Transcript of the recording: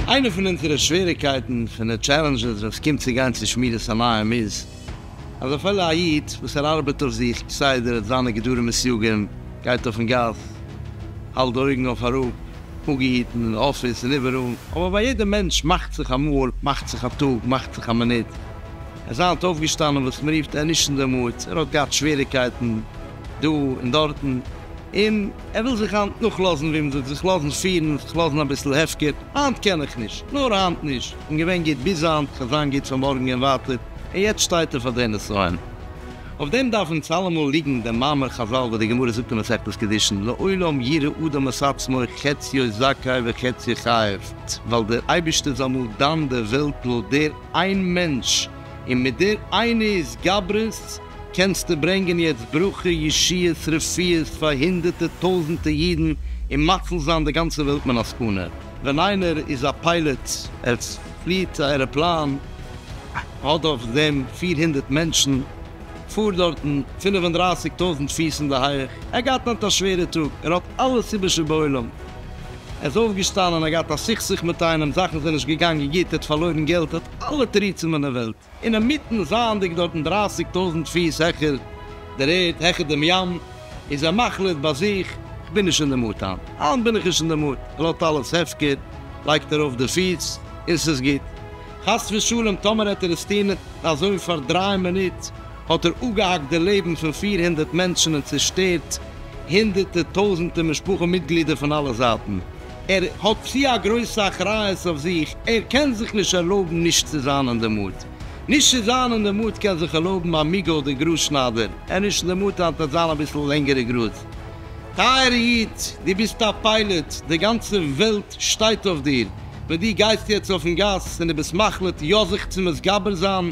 איינע פון אונזערע שוועריקייטן, פון די טשעלענדזשעס ווען ס'קומט צו גיין צו שמירת עיניים איז, אז אפילו א איד וואס ער ארבעט אויף זיך כסדר, האט זיינע גדרים וסיוגים, גייט אויפן גאס, האלט די אויגן אויף אראפ, אפגעהיטן אין אפיס און איבעראל. אבער ביי יעדע מענטש מאכט זיך אמאל, מאכט זיך א טאג, מאכט זיך א מינוט. ער איז היינט אויפגעשטאנען וואס מ'רופט ענישן דעמאלטס, ער האט געהאט שוועריקייטן דא און דארטן, און ער וויל זיך היינט נאכלאזן, ווי מ'זאגט, זיך לאזן פירן, זיך לאזן אביסל הפקר, היינט קען איך נישט, נאר היינט נישט, כ'בין געווען גוט ביז היינט, כ'וועל זיין גוט פון מארגן און ווייטער, און יעצט שטייט ער פאר די נסיון. אויף דעם דארף אונז אלעמאל ליגן דעם מאמר חזל וואס די גמרא זאגט אין מסכת קידושין לעולם ירא אדם את עצמו חציו זכאי וחציו חייב, ווייל דער אייבערשטער זאל אמאל דן דער וועלט לויט דער איין מענטש, און מיט דער איינע התגברות קענסטו ברענגען יעצט ברכה, ישועות, רפואות פאר הונדערטע טויזענטע אידן און מציל זיין די גאנצע וועלט מן הסכנה. ווען איינער איז א פיילעט ער. פליט א עראפלאן האט אויף דעם פֿיר הונדערט מענטשן, פארט דארטן פֿינף און דרײַסיק טויזנט פיס אין די הייעך, ער האט געהאט היינט א שווערע טאג, ער האט אלעס איבער שבעולם, ער איז אויפגעשטאנען, ער האט געהאט א סכסוך מיט איינעם, זאכן זענען נישט געגאנגען גוט, ער האט פארלוירן געלט, ער האט אלע תירוצים אין דער וועלט. אינמיטן זייענדיג דארטן דרייסיג טויזנט פיס העכער דער ערד, העכער דעם ים, איז ער מחליט ביי זיך, כ'בין נישט אין די מוט היינט, היינט בין איך נישט אין די מוט, ער לאזט אלעס הפקר, לייגט ארויף די פיס, און ס'איז גוט. חס ושלום טאמער העט ער עס טון אזוי פאר דריי מינוט, האט ער אפגעהאקט די לעבן פון פֿיר הונדערט מענטשן און צעשטערט הונדערטער טויזנטער משפחה מיטגלידער פון אלע זייטן. ער האט צו א גרויסע אחריות אויף זיך, ער קען זיך נישט ערלויבן נישט צו זיין אין די מוד. נישט צו זיין אין די מוד קען זיך ערלויבן א מיגא אדער גראז שניידער, ער איז נישט אין די מוד היינט וועט זיין אביסל לענגערע גראז. טייערע איד, דו ביסט א פיילעט, די גאנצע וועלט שטייט אויף דיר, ווען דו גייסט יעצט אויפן גאס און דו ביסט מחליט יא זיך צו מתגבר זיין,